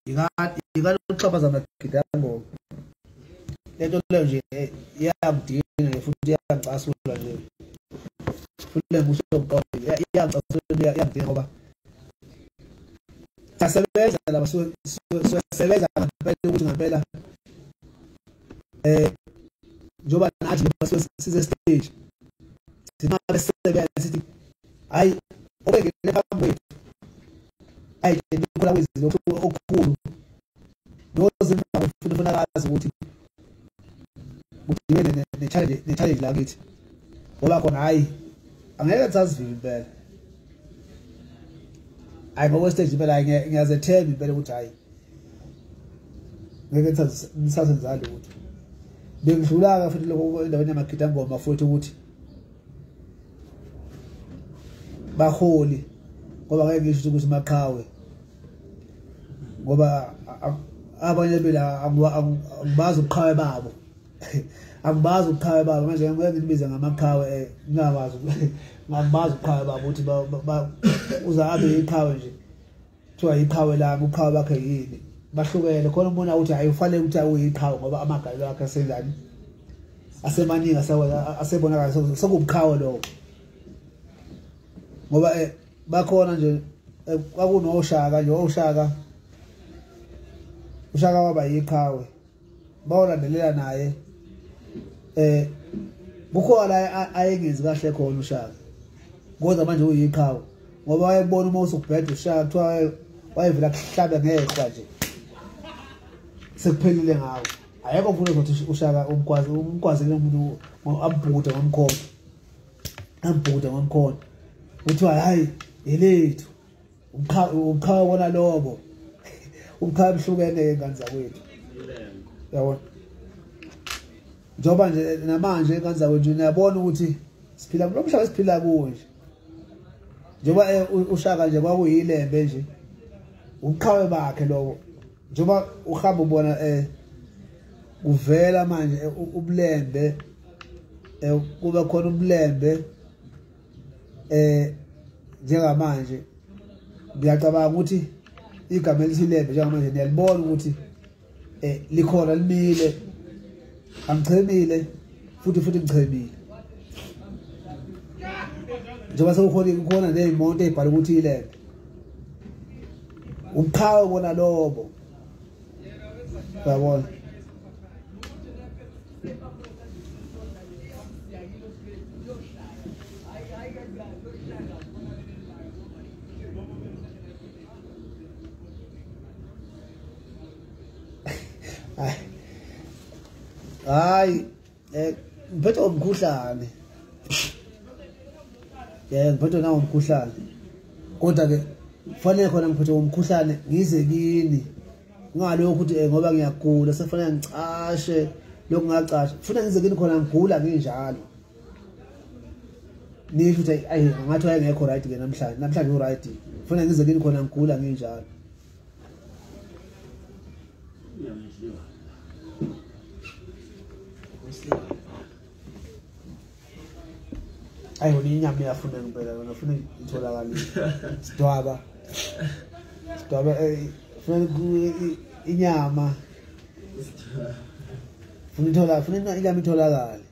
yikani ukuxhaphaza amagidi angoma le nto leyo nje iyangidina nje futhi iyangicasula nje futhi le mbuso yokuqonda iyangicasula iyangidina ngoba siyasebenza laba siyasebenza ngempela ukuthi ngempela eh njengoba nathi njengoba size stage sinqabe sisebenza sithi hayi obengene phambi kwethu hayi ndikhola kwezinto okukhulu nozimba ufuna ufuna kazi ukuthi kudibene ne-challenge ne-challenge la kithi ngoba khona hhayi angeke kusazivile impela hhayi ngokwestage impela hhayi ngiyazethemba impela ukuthi hhayi ngeke ngisazenzani lutho bengidlula-ke futhi lokho endaweni yamagidangoma futhi ukuthi baholi ngoba ngeke ngisho ukuthi maqhawe ngoba abanye bela akubazi ubuqhawe babo akubazi ubuqhawe babo manje ngeke ngibize ngamaqhawe eh, ngingakwazi ngakubazi ubuqhawe babo ukuthi uza abe iqhawe nje kuthiwa yiqhawe lami uqhawe bakhe yini bahlukene khona umuntu awuthi hayi ufanele ukuthi awuyiqhawe ngoba amagalelo akhe asenjani asemaningi asebonakala sekubuqhawe lowo ngoba eh, bakhona nje eh, kwakunoshaka nje oshaka ushaka waba yiqhawe bawalandelela naye eh kukhona la ayengenzi kahle khona ushaka kodwa manje uyiqhawe ngoba wayebona uma usubheda ushaka kuthiwa wayevela kuhlabe ngehla nje sekuphelile ngawo ayekho mfuna ukuthi ushaka umkwazi umkwazile umuntu ambhude ngomkhondo ambhude ngomkhondo kuthiwa hayi yelethu uqhawe kona lobo uqhawe mhlukene-ke ngane zakwethu yabona njengoba nje namanje ingane zakwethu niyabona ukuthi siphila kulo mhlaba esiphila kuwo nje njengoba eh, ushaka nje kwakuyilembe nje ubuqhawe bakhe lobo njengoba uhamba ubona um kuvela manje eh, ubulembe eh, kube khona ubulembe eh njengamanje ngiyacabanga ukuthi igama elithi lembe njengamanje niyalibona ukuthi eh likhona limile angichemile futhi futhi ngichemile njengoba sekukhona kukhona ney'moto ey'bhala ukuthi ilembe ubuqhawe bona lobo yabona Ay. eh ngiphethe umkhuhlane yeah ngiphethe nawo umkhuhlane kodwa ke fanele khona ngiphethe umkhuhlane ngize kini ngalokho ukuthi eh, ngoba ngiyagula sefanele ngicashe lokhu ngacasha funa ngize kini khona ngigula nginjalo nisho ukuthi ayi ngathi wayengekho right ke namhlanje namhlanje u right funa ngize kini khona ngigula nginjalo ayi wona inyama iyafuna ngempela yona funa itholakale sidwaba sidwaba eh, funa inyama funa ithola funa inyama itholakale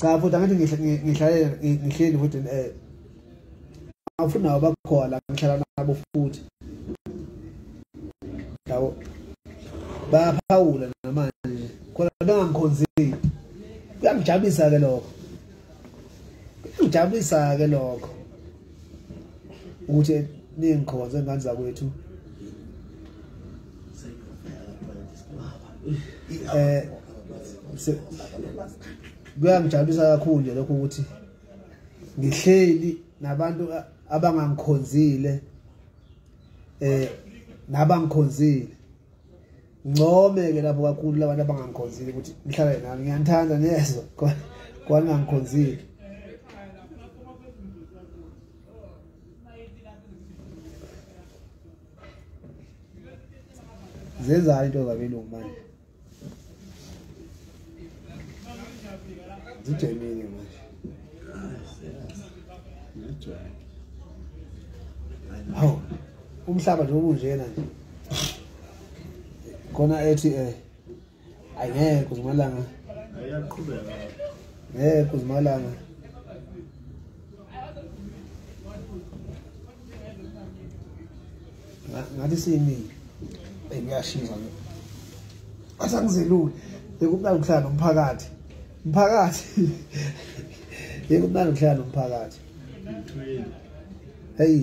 cha futhi angathi ngihlalela ngihleli futhi um eh, awufuni nawo bakhona ngihlala nabo futhi yabo bayaphawula namanje khona bengangikhonzile kuyangijabulisa-ke lokho kuyangijabulisa-ke lokho ukuthi ningikhonze ngani zakwethu eh kuyangijabulisa kakhulu nje lokho ukuthi ngihleli nabantu abangangikhonzile eh nabangikhonzile ngcome-ke lapho kakhulu labantu abangangikhonzile ukuthi nihlale nami ngiyanithanda niyezwa kwaningangikhonzile zenzani into zabelungu manje zijemile manje hawu umhlaba nje ubunjena nje khona ethi um eh, ayi ngeke kuzimalanga ngeke kuzimalanga ngathi siyimile eyi kuyashiza ke athi angizelule bekumnandi ukuhlala nomphakathi mphakathi bekumnandi ukuhlala nomphakathi heyi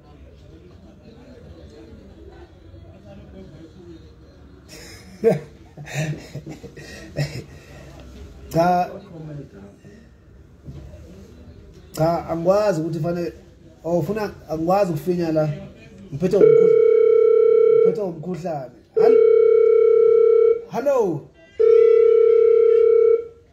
cha cha angikwazi ukuthi fanele awufuna oh, angikwazi ukufinya la ngiphethe umkhuhlane ngiphethe umkhuhlane hello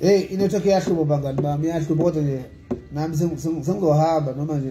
Hey, inethoke yahlubo bangani bami, yahlubo kodwa nje nami sengizohamba noma nje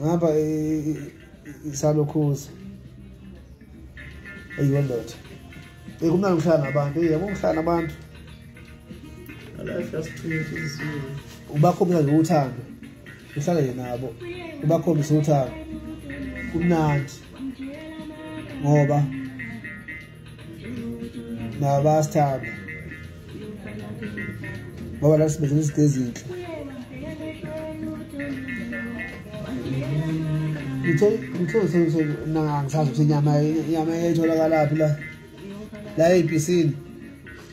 ngapha isalokhuza eyiyo ndoda eyi kumnandi ukuhlala nabantu eyi yabo ukuhlala nabantu ubakhombisa nje uthando uhlala nje nabo ubakhombisa uthando kumnandi ngoba nabasithanda ngoba la sibenzela izinto ezinhle ngithoangisazi ukuthi inyama inyama etholakala phi la la ebhisini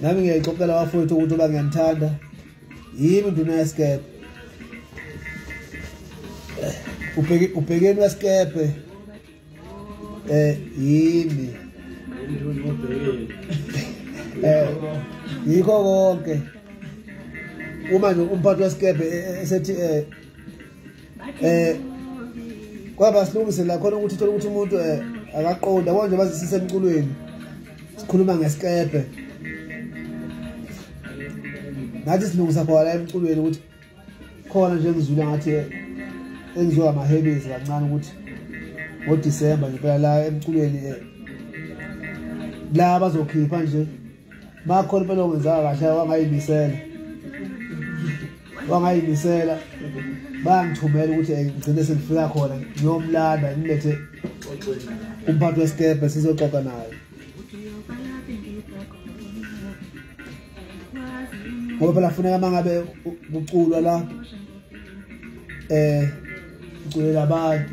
nami ngiyayixoxela abafowethu ukuthi uba ngiyanithanda yimi nduna yesikebhe ubhekeni wesikebhe eh yimi eh yikho konke uma nje umphathi wesikebhe eh, eh, esethi eh eh kwaba silungise la khona ukuthi thola ukuthi umuntu eh, akaqonda konje bazisise emculweni sikhuluma ngesikebhe ngathi silungisa khona emculweni ukuthi khona nje ngizwile ngathi eh, engizoba amahebezi kancane ukuthi ngodisemba ngempela la emculweni eh, la bazokhipha nje Makhona impela ongenzanga kahle wangayimisela. Wangayimisela bangithumela ukuthi eh, ngigcine sengifika khona ngiyomlanda ngilethe umphathi wesikepe sizoxoxa naye ngoba phela funeka uma ngabe kuculwa la um eh, kuculela abantu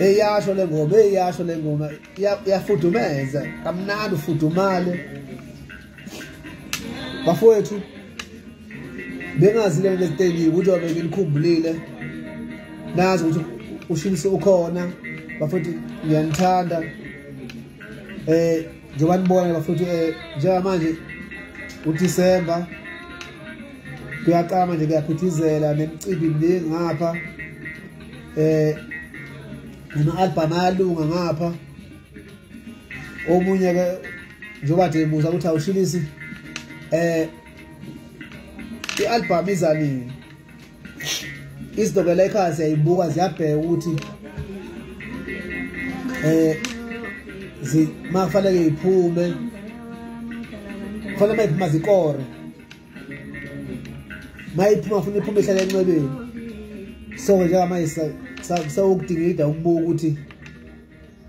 eyasho le ngoma eyasho le ngoma iyafudumeza kamnandi ufudumale bafowethu bengazi le nto esitendile ukuthi wabe nginikhumbulile nazi ukuthi ushilise ukhona bafowethu ngiyanithanda um njengoba nibona bafowethu um njengamanje udisemba kuyaqala manje kuyaphithizela nemicimbi mningi ngapha um nama-albham ayalunga ngapha omunye-ke njengoba de musa ukuthi awushilisi um i-albhamu izanini izinto ke layikhaya siyayibuka ziyabheka ukuthi eh makufanele iphume kufanele mayiphuma zikore mayiphuma funa iphume ihlale enxebeni so njengamanje sawukudingida ukubuka ukuthi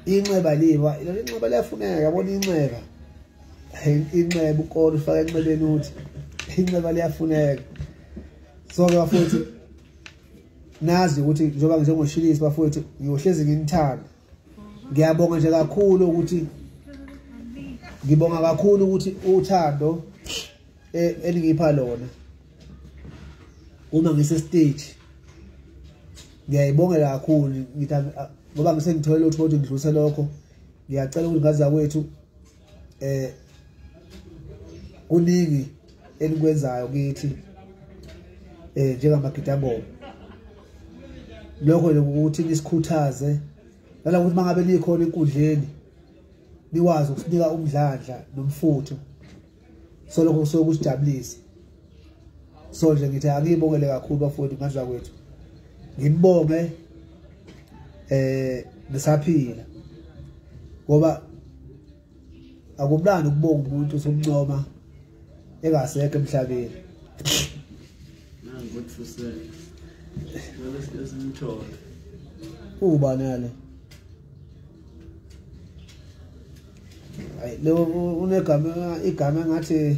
inxeba liva lelo inxeba liyafuneka yabona inxeba inxeba ukore ufake enxebeni uthi inxeba liyafuneka so ke bafowethu nazi ukuthi njengoba njengoshilisi bafowethu ngiyohlezi nginithanda ngiyabonga nje kakhulu ukuthi ngibonga kakhulu ukuthi uthando e, elingipha lona uma ngise stage ngiyayibongela kakhulu ngithi ngoba ngisengithole lutho ukuthi ngidluse lokho ngiyacela ukuthi ngazakwethu eh kuningi enikwenzayo kithi eh njengamagidangoma lokho nje ukuthi nisikhuthaze lala ukuthi mangabe nikhona enkundleni nikwazi ukusinika umdlandla nomfutho so lokho kusuke kusijabulisa so nje ngithi angiyibongele kakhulu bafowethu ngandla kwethu ngibonge eh ngisaphila ngoba akumnandi ukubonga umuntu usumncoma engasekho emhlabeni nangu ukuthi fuse ngale simthole uba nale ayi lo unegama igama ngathi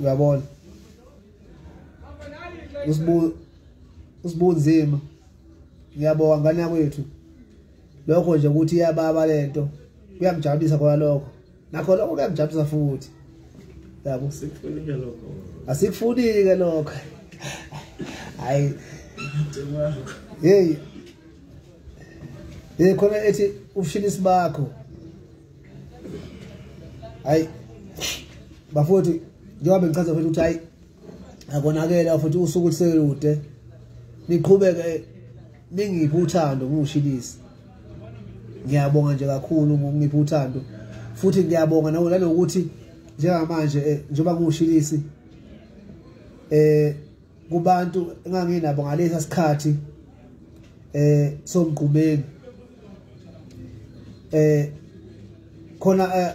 uyabona usibu usibunzima ngiyabonga ngane yakwethu lokho nje ukuthi iyababa lento kuyamjabulisa khona lokho nakho lokho kuyamjabulisa futhi yabo sikufunike lokho asikufunike lokho hayi hey hey khona ethi ushilisi bakho hayi bafowethu njengoba bengichaza futhi ukuthi hayi akonakele futhi usuku oluselude niqhubeke ningiphi uthando ngingushilisi ngiyabonga nje kakhulu ngokungiphi uthando futhi ngiyabonga nawe nanokuthi njengamanje eh, njengoba ngiwushilisi eh kubantu enganginabo ngalesa sikhathi eh somgqumeni eh khona eh,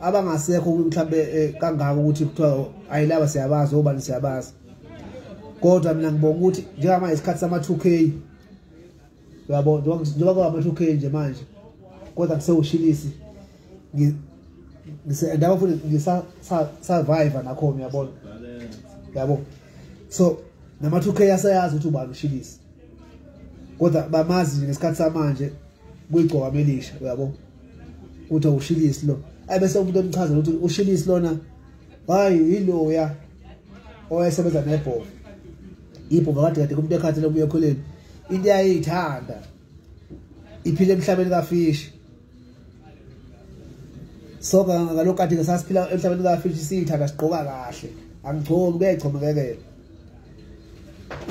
abangasekho mhlawumbe eh, kangako ukuthi kuthiwa ayilaba siyabazi obani siyabazi kodwa mina ngibonga ukuthi njengamanje isikhathi sama-2k uyabo njengoba kwama-two k nje manje kodwa ngisewushilisi ndaba futhi ngisasurvive nakhona uyabona yabo so nama-two k asayazi ukuthi ubani ushilisi kodwa bamazi nje ngesikhathi samanje kuyigcoka melisha uyabo ukuthi awushilisi lo ayi bese umuntu emchazela ukuthi ushilisi lona hayi yiloya owayesebenza nebhovu ibhova kade kade kumuntu ekhathele kubuya ekholeni into yayithanda iphile emhlabeni kafishi so ngalokho kade sasiphila emhlabeni kafishi siyithanda sigqoka kahle angigcoki kuyayigcomekekela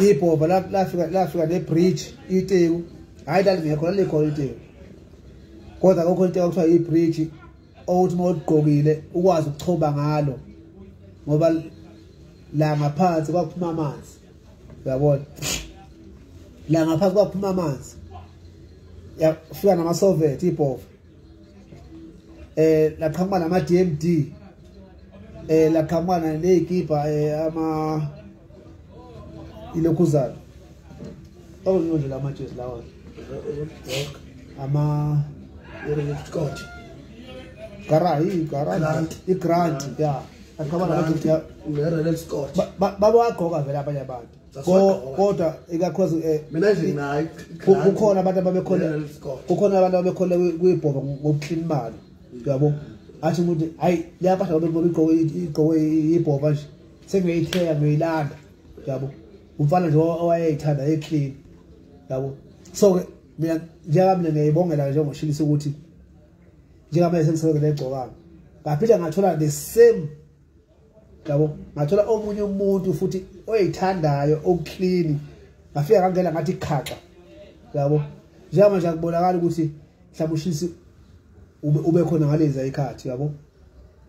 ibhova lafika lafika nebridge iteku hayi lalingekho lalikhona iteku kodwa kokho into ekuthiwa ibridge othi uma uligqokile ukwazi ukuchoba ngalo ngoba la ngaphansi kwaphuma amanzi uyabona la ngaphansi kwaphuma amanzi yafika namasovet ibhova eh laqhamuka nama DMD eh laqhamuka nezikibha eh ama ilokhuzana Oh, no, la matches la one. Ama Scott. Gara, i gara. Grant. I grant, yeah. Akabana bathi ya Ronel Scott. Baba wagqoka vele abanye abantu. Kodwa ikakhulu eh mina nje nayi kukhona abantu ababekhona kukhona abantu ababekhona kuyibhoba ngokuclean imali. Uyabo? Athi umuntu hayi liyapahla babegqoka igqoke ibhoba nje. Sengiyitheka ngiyilanda. Uyabo? umfana nje owayeyithanda eclean yabo so ke mina njengami mina ngiyibongela ke njengoshilisa ukuthi njengamanje sengisebenza legcokana ngaphinde ngathola the same yabo ngathola omunye umuntu futhi oyithandayo okuclean ngafika ngangena ngathi khaxa yabo njengamanje akubonakala ukuthi mhlawumbe ushisi ube khona ngalezi ayikhathi yabo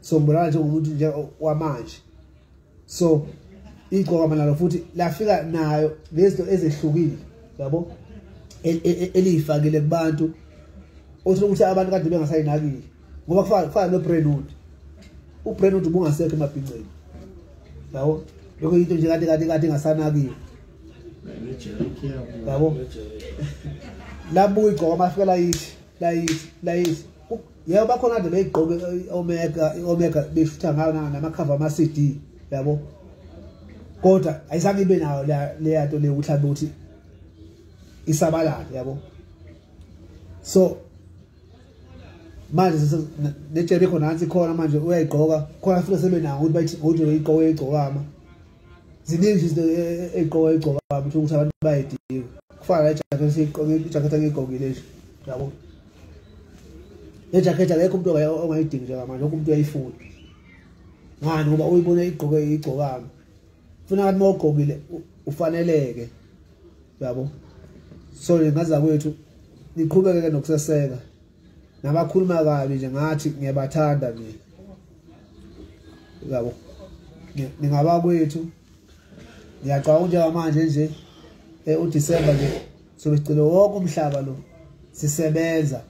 so ngibonakala njengomuntu nje wamanje so igcokama nalo futhi lafika nayo lezinto ezehlukile yabo e, e, e, eliyifakile kubantu othi ukuthi abantu kade bengasayinakile ngoba kufana noBrenwood uBrenwood ubungasekho emabhinceni yabo lokho into nje kade kade kade ingasanakiwe yabo labuya igcokama afika layithi layithi layithi yebo bakhona kade beyigqoke omega omega befutha ngayo namakhava ama CD yabo kodwa ayizange ibe nayo le yato le ukuthi abe ukuthi isabalala yabo so manje netshebe khona nansi khona manje uyayigqoka khona futhi sebenawo ukuthi bayithi ngokuthi uyigqoke igcokama ziningi izinto ey'gqoka ey'gcoka bami ukuthi abantu bayidinga kufana nejakhethi ijakhethi angiyigqokile nje yabo nejakhethi akekho umuntu ongayidingi njengamanje lokho umuntu uyayifuna ngani ngoba uyibona igqoke igcokami funa ngathi uma ugqokile ufaneleke yabo so ngaza kwethu niqhubeke-ke nokuseseka nabakhuluma kabi nje ngathi ngiyabathanda mina yabo ningaba kwethu ngiyacabanga njengamanje nje eh, uDisemba nje sobe sicela wonke umhlaba lo sisebenza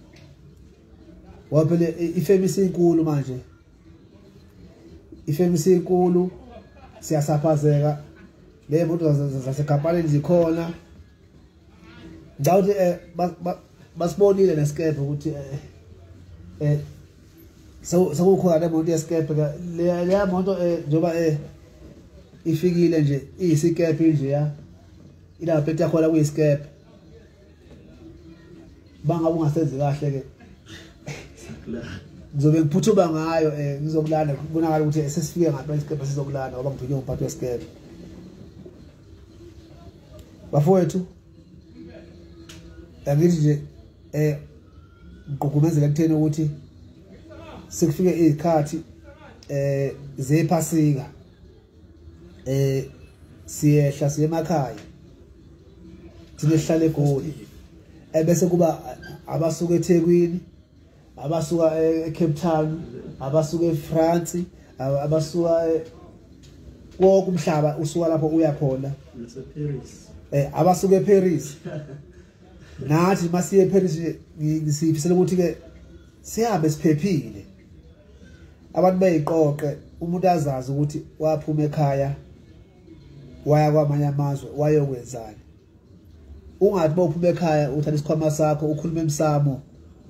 ngoba phela ifemi isinkulu manje ifemi isinkulu siyasaphazeka ley'moto zasekampanini zikhona ngicabanga ukuthi eh, basibonile nesikebhe ukuthi eh, eh, sekukhona le moto yesikebhe leya moto njengoba ifikile nje iyisikebhe nje ya inabapeti yakhona kuyisikebhe bangabe ungasenzi kahle ke ngizobe ngiphuthuma ngayo um ngizokulanda kubonakala ukuthi sesifike ngampela isikebhe sizokulanda ngoba ngiphinywe ngumphathi wesikebhe bafowethu angithi nje eh ngigqugqumezela kuthena ukuthi sekufike izikhathi eh zephasika eh siyehla siye emakhaya thina sihlale egoli ebese kuba abasuka eThekwini abasuka eCape Town abasuka eFrance abasuka konke umhlaba usuka lapho uya khona naseParis eh abasuka eParis nathi masiye eParis ngisifisela ukuthi ke sihambe siphephile abantu bayiqoqe umuntu azazi ukuthi waphuma ekhaya waya kwamanye amazwe wayokwenzani ungathi bawuphuma ekhaya uthatha isikhwama sakho ukhuluma emsamo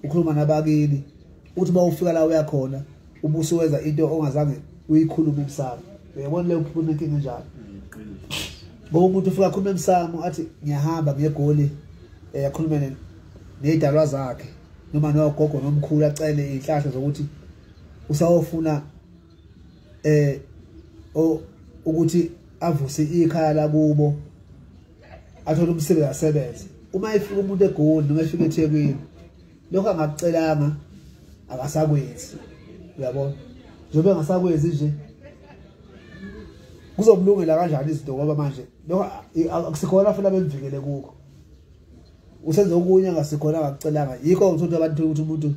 ukhuluma nabakini uthi bawufika la uya khona ubuso wenza into ongazange uyikhulume emsamo uyabona leyo phuma inkinga njalo ngoba umuntu ufika akhulume emsamo athi ngiyahamba ngegoli eh, akhulume nezidalwa zakhe noma nogogo nomkhulu acele izihlahla zokuthi usawofuna eh o ukuthi avuse ikhaya lakubo athole umsebenzi asebenze uma efika umuntu egoli noma efika ethekwini lokho angakucelanga akasakwenzi uyabona njengoba engasakwenzi nje kuzomlungela kanjani izinto ngoba manje lokho akusikhona futhi abemvikele kukho usenze okunye angasikhona akakucelanga yikho ngithola abantu ukuthi umuntu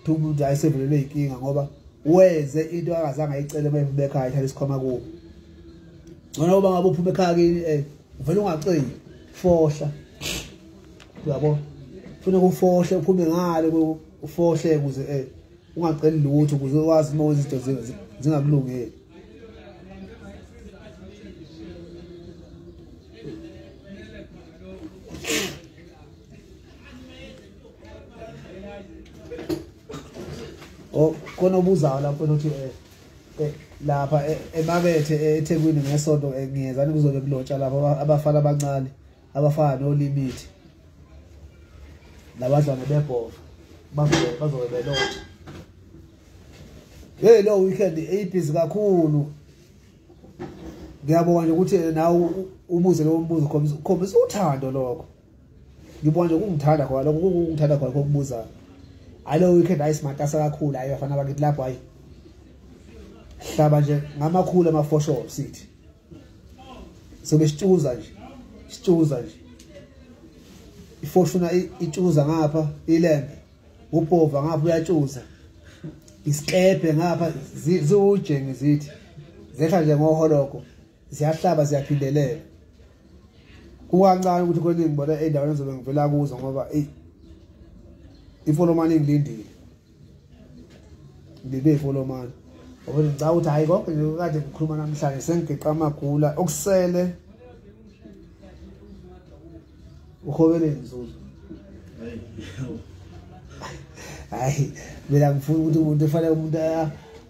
Thumba ukuthi hayi sevelelwe inkinga ngoba wenze into akazange ayicele uma ephuma ekhaya ithatha isikhwama kubo. Ngona uba ngabe uphuma ekhaya kini eh uvela ungaceli fohla. Uyabo? Funa kufohle uphume ngale ufohle ukuze eh ungaceli lutho ukuze ukwazi uma wenza izinto zingakulungeli. Oh khona obuzayo lapho ukuthi eh, eh lapha eh, emakethe eh, eThekwini ngesonto ngiyezani kuzobe kulotsha lapho abafana abancane abafana no limit labadlwane bebhova bazobe bazobe belotsha hey lo weekend eyibhizi kakhulu ngiyabonga ukuthi nawe ubuze lo mbuzo khombisa uthando lokho ngibona nje kungithanda khona lokho kungithanda khona kokubuza hayi lo weekend hayi simatasa kakhulu hayi bafana bakithi lapho hayi hlaba nje ngamakhulu amafosho sithi sobe sitshuza nje sitshuza nje ifoshuna itshuza ngapha ilembe ubhova ngapha uyatshuza isikebhe ngapha ziwujenge zithi zehla nje ngoholoko ziyahlaba ziyaphindelela kukancane ukuthi kweningi ngibona endaweni ezobe ngivela kuzo ngoba eyi ifolomane ngilindile ngilinde ifolomane ngoba ngicaba ukuthi hhayi konke nje kade ngikhuluma namhlanje sengigeqa amagula okusele uhobele nzuzo hayi mina ngifuna ukuthi umuntu efanele umuntu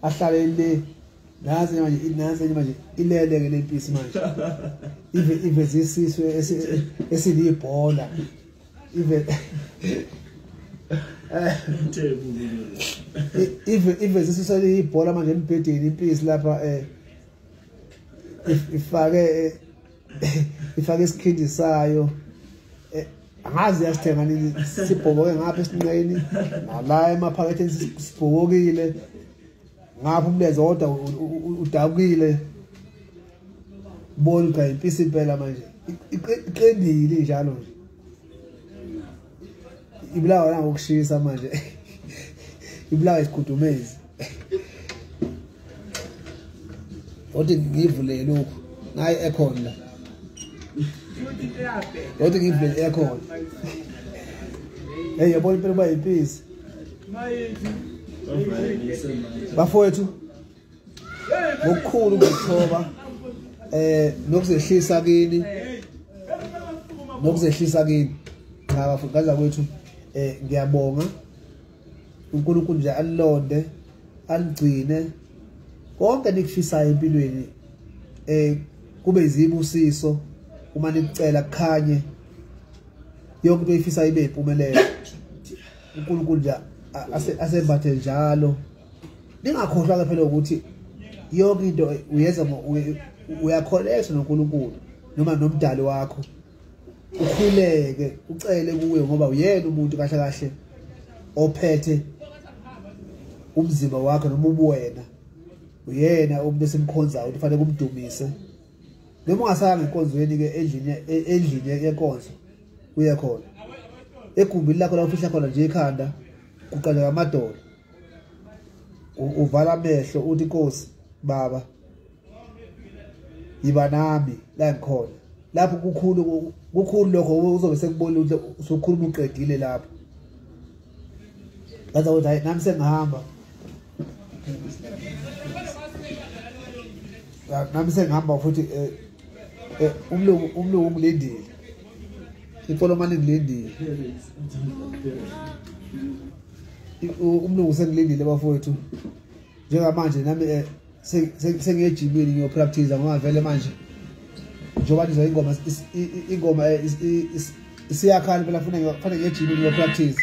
ahlale le Nazi manje inazi manje ilele ke lempisi manje. Ive ive zisiswe esilibhola. Ive Ive ive zisiswe libhola manje embhedeni impisi lapha eh ifake eh, ifake isikhindi sayo eh, angazi yasithenga nini sibhoboke ngapha esinqeni nala emaphaketheni sibhokokile ngapha umlenze kodwa udakile bona cha impisi impela manje iqendile njalo nje ibulawa la ngokushisa manje ibulawa isikhudumezi othi ngivule lokhu ngayi aircon la othi ngivule aircon hey yabona impela kuba yimpisi bafowethu ngokukhulu ukuzithoba eh nokuzehlisa kini nokuzehlisa kini cha bafowethu kaza kwethu eh ngiyabonga uNkulunkulu nje alilonde aligcine konke nikufisayo empilweni eh kube izibusiso uma nikucela kukhanye yonke into oyifisa ibe impumelelo uNkulunkulu nje asembathe njalo ningakhohlwa ke phela ukuthi yonke into uyenza uyakholekha noNkulunkulu noma nomdali wakho ukhuleke ucele kuwe ngoba uyena umuntu kahle kahle ophethe umzimba wakhe noma ubuwena uyena umuntu esimkhonzayo ukuthi fanele kumdumise noma ungasaya ngenkonzweni ke endlini endlini yenkonzo uye khona egumbini lakho la ufihla khona nje ikhanda kuqaleka amadolo uvala amehlo uthi Nkosi baba yiba nami la ngikhona lapho kukhulu kukhulu lokho uzobe sekubona ukuthi usukhuluma uqedile lapho ngathi nami sengihamba nami sengihamba futhi eh, eh, umlungu umlungu ungilindile imfolomane ngilindile umlungu sengilindile bafowethu njengamanje nami eh, sengiyejimini ngiyopractice ngoba vele manje njengoba nizwa ingoma ingoma isiyakhala phela funa ngiyejimini ngiyopractice